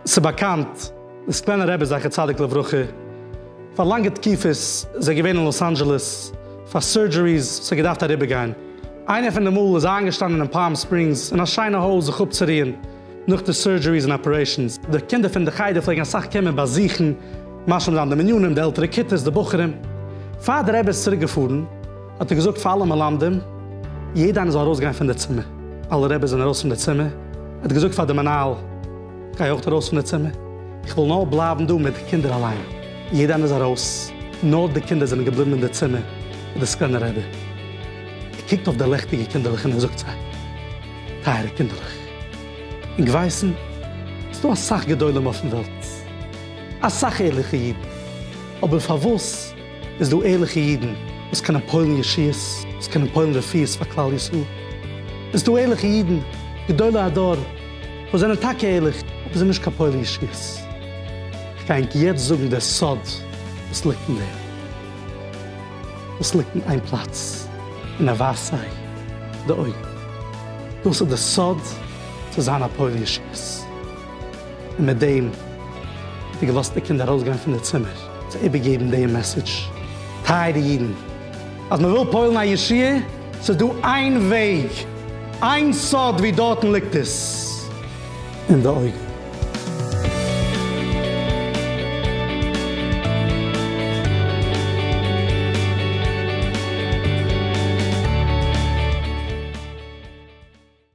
ס'איז באקאנט, די סקווענער רבי זכר צדיק לברכה, פאר לאנגע תקופות איז ער געווען אין לאס אנדזשעלעס פאר סורדזשעריס וואס האט געדארפט אריבערגיין. איינער פון די מאל איז ער איינגעשטאנען אין פאלם ספרינגס אין א שיינע הויז זיך אפצוריען נאך די סורדזשעריס און אפערעישאנס. די קינדער פון די חדר פלעגן אסאך קומען באזוכן, משלים זיין די מנינים, די עלטערע כיתות, די בחורים. פאר די רבי איז צוריק געפארן. האט ער געזאגט פאר אלע מלמדים, יעדע איינער זאל ארויסגיין פון די צימער, אלע רעבעס זענען ארויס פון די צימער, ער האט געזאגט פאר די מנהל, גיי אויך ארויס פון די צימער, איך וויל נאר בלייבן דא מיט די קינדער אליין, יעדע איינער איז ארויס, נאר די קינדער זענען געבליבן אין די צימער מיט די סקלענער רעבע, ער קוקט אויף די לעכטיגע קינדערלעך און ער זאגט זיי, טייערע קינדערלעך, אונג ווייסן, ס'איז דא אסאך גדולים אויפן וועלט, אסאך ערליכע אידן, אבער פארוואס, איז דא ערליכע אידן וואס קענען פועל'ן ישועות, וואס קענען פועל'ן רפואות פאר כלל ישראל. איז דא ערליכע אידן, גדולי הדור, וואס זענען טאקע ערליך, אבער זענען נישט קיין פועלי ישועות. כ'גיי ענק יעצט זאגן דער סוד וואס ליגט אין דעם. דאס ליגט אין איין פלאץ, און ער ווייזט זיי די אויגן. דאס איז דער סוד צו זיין א פועל ישועות. און מיט דעם האט ער געלאזט די קינדער ארויסגיין פון די צימער. צו איבערגעבן דעם מעסעדזש, טייערע אידן, אז מען וויל פועל'ן א ישועה, ס'איז דא איין וועג, איין סוד ווי דארטן ליגט עס, אין די אויגן.